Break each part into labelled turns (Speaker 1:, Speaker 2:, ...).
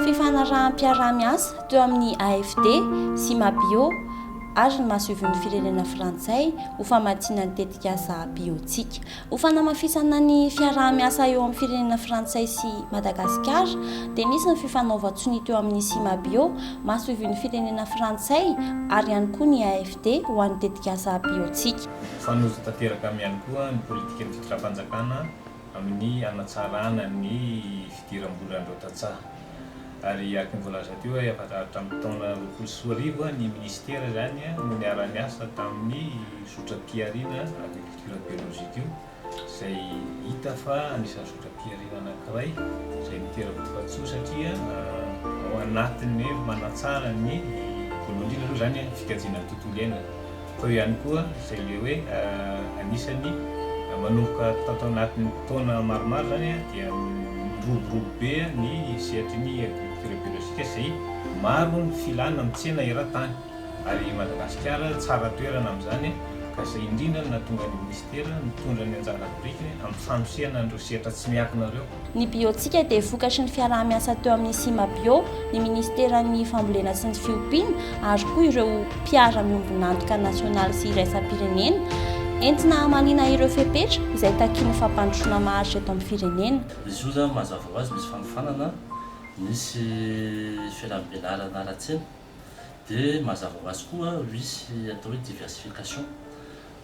Speaker 1: Fifanaraham-piaraha-miasa teo amin'ny AFD sy Mabio ary ny masoivohon'ny firenena frantsay ho famatsiana ny tetikasa Biotsiaka. Ho fanamafisana ny fiaraha-miasa eo amin'ny firenena frantsay sy Madagasikara dia nisy ny fifanaovan-tsonia teo amin'ny Cimabio, masoivohon'ny firenena frantsay, ary ihany koa ny AFD ho an'ny tetikasa Biotsika. Mifanojo tanteraka
Speaker 2: aminy ihany koa ny politikan'ny fitondram-panjakana amin'ny hanatsarana ny fidiram-bolan'ireo tantsaha. Ary araka ny voalaza teo hoe hatramin'ny taona roapolo sy roa arivo ny minisitera izany no niara-niasa tamin'ny zotram-pihariana agrikolo. Culture biologique io izay hita fa anisan'ny zotram-pihariana anankiray izay mitera-boka-tsoa satria ao anatin'ny hoe manatsara ny voalohany indrindra aloha izany ny fikajiana ny tontolo iainana fa eo ihany koa izay ilay hoe anisan'ny manomboka tao tao anatin'ny taona maromaro izany dia miroborobo be ny sehatry ny agriculture biologique izay maro ny filana amin'ny tsena eran-tany. Ary i Madagasikara tsara toerana amin'izany ka izay indrindra no nahatonga ny Minisitera nitondra ny anjara birikiny amin'ny fanosehana an'ireo sehatra tsy miankina ireo. Ny Biotika
Speaker 1: dia vokatry ny fiaraha-miasa teo amin'ny Cimabio, ny Minisiteran'ny Fambolena sy ny Fiompiana ary koa ireo mpiara-miombon'antoka nasionaly sy iraisam-pirenena, entina hamaliana ireo fepetra izay takian'ny fampandrosoana maharitra eto amin'ny firenena. Izy io zany mazava
Speaker 3: ho azy misy fanofanana, misy fiaraha-mivelarana ara-tsena. dia mazava ho azy koa misy atao hoe diversification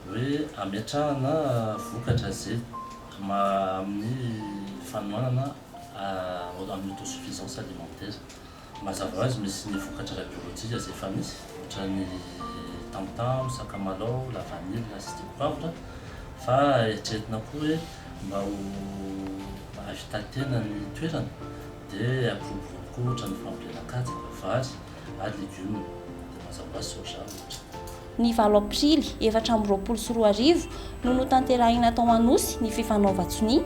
Speaker 3: hoe ametrahana vokatra ze maha amin'ny fanohanana amin'ny autosuffisance alimentaire mazava ho azy misy ny vokatra ara biolojika ze efa misy ohatra ny tamotamo, sakamalao, lavanila sy dipoavatra fa eritreretina koa hoe mba ho ahavitantena ny toerana Dia akoho vovony koa ohatra ny fambolena katsaka, vary ary legioma dia mazava sy soja ohatra. Ny valo
Speaker 1: aprily efatra amby roapolo sy roa arivo no notanterahina tao Anosy ny fifanaovan-tsonia,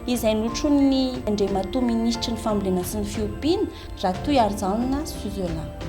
Speaker 1: izay notronin'ny Andriamatoa Minisitry ny Fambolena sy ny Fiompiana, Ratoiharijanona Suzelin.